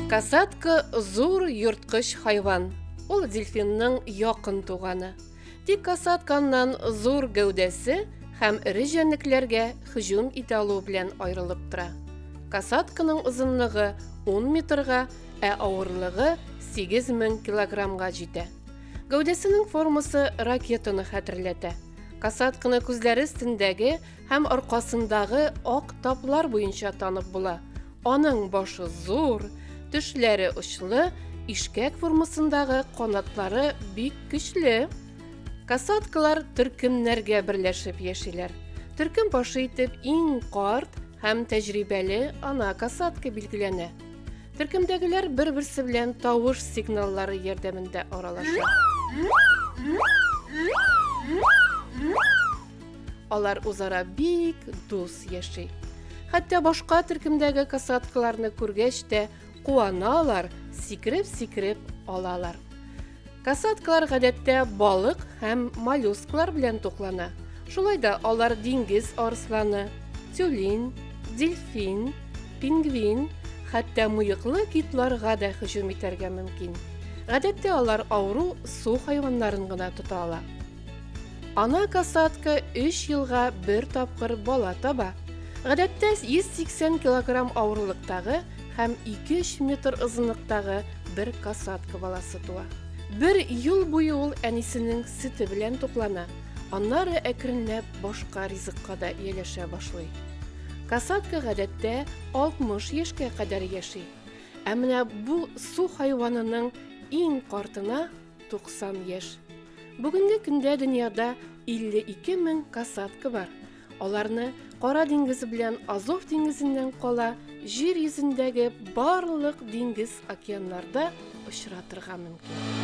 Касатка зур йорткыч хайван. Ул дельфинның якын туганы. Тик касатканнан зур гәүдәсе һәм эре җәнлекләргә һөҗүм итә алу белән аерылып тора. Касатканың озынлыгы 10 метрга, ә авырлыгы 8000 килограммга җитә. Гәүдәсенең формасы ракетаны хәтерләтә. Касатканы күзләре өстендәге һәм аркасындагы ак таплар буенча танып була. Аның башы зур, төшләре очлы, ишкәк формасындагы канатлары бик көчле. Касаткалар төркемнәргә берләшеп яшиләр. Төркем башы итеп иң карт һәм тәҗрибәле ана касатка билгеләнә. Төркемдәгеләр бер-берсе белән тавыш сигналлары ярдәмендә аралаша. Алар үзара бик дус яши. Хәтта башка төркемдәге касаткаларны күргәч тә куаналар, сикереп-сикереп алалар. Касаткалар гадәттә балык һәм моллюсклар белән туклана. Шулай да алар диңгез арысланы, тюлин, дельфин, пингвин, хәтта муеклы китларга да һөҗүм итәргә мөмкин. Гадәттә алар авыру су хайваннарын гына тота ала. Ана касатка өч елга бер тапкыр бала таба. Гадәттә 180 килограмм авырлыктагы һәм 2-3 метр озынлыктагы бер касатка баласы туа. Бер ел буе ул әнисенең сөте белән туклана, аннары әкренләп башка ризыкка да ияләшә башлый. Касатка гадәттә 60 яшькә кадәр яши. Ә менә бу су хайванының иң картына 90 яшь. Бүгенге көндә дөньяда 52 мең касатка бар. Аларны Кара диңгез белән Азов диңгезеннән кала җир йөзендәге барлык диңгез океаннарда очратырга мөмкин.